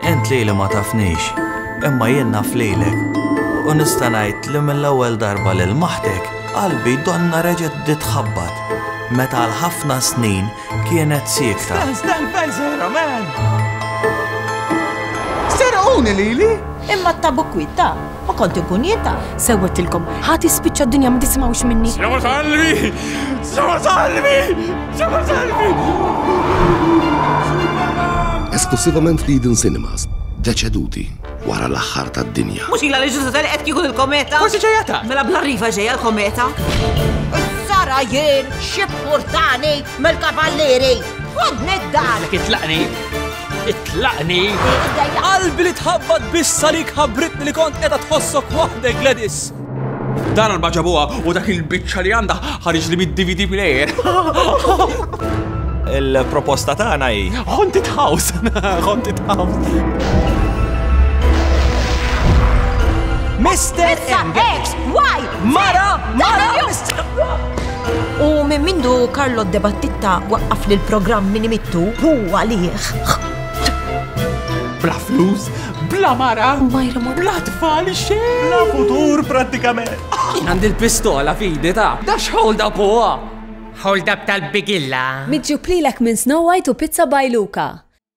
Ent li li ma tafnix, imma jien naf lilek. U nista' ngħid li mill-ewwel darba lil maħtek qalbi donna reġgħet ditħabbat meta għal ħafna snin kienet siekta. Stan, stan, fejn sejra, man! Serquni lili? Imma t-tabu kwita. Ma kont inkun jien ta' sewwettilkom. Ħa tispiċċa d-dinja ma tisimgħux minni. Sema salvi! Sema salvi! Sema salvi! Esklusivament f'Eden Cinemas, deċeduti wara l-aħħar tad-dinja. Mhux ila li ġużu tal qed kieku l-kometa. Forsi ġejjata. Mela bla riva ġejja l-kometa. Sara jien xi portani mill-kavallieri. Ħodni d-dar. Kitlaqni. Itlaqni! Qalbi li tħabbat biex salik ħabritni li kont qiegħda tħossok waħdek Gladys. Dan għal baġabuha u dak il-biċċa li għandha ħariġ li mid-DVD player. Il-proposta tagħna hi Haunted House. Haunted House. Mr. X, why? Mara! Mara! U minn mindu Karlo Debattitta waqqaf li l-programm minn imittu hu għalih. Bla flus, bla mara, bla tfal xejn. Bla futur prattikament. Għandi l-pistola fidi ta' dax hold up huwa. Hold up tal-bigilla. Miġjub lilek minn Snow White u Pizza by Luca.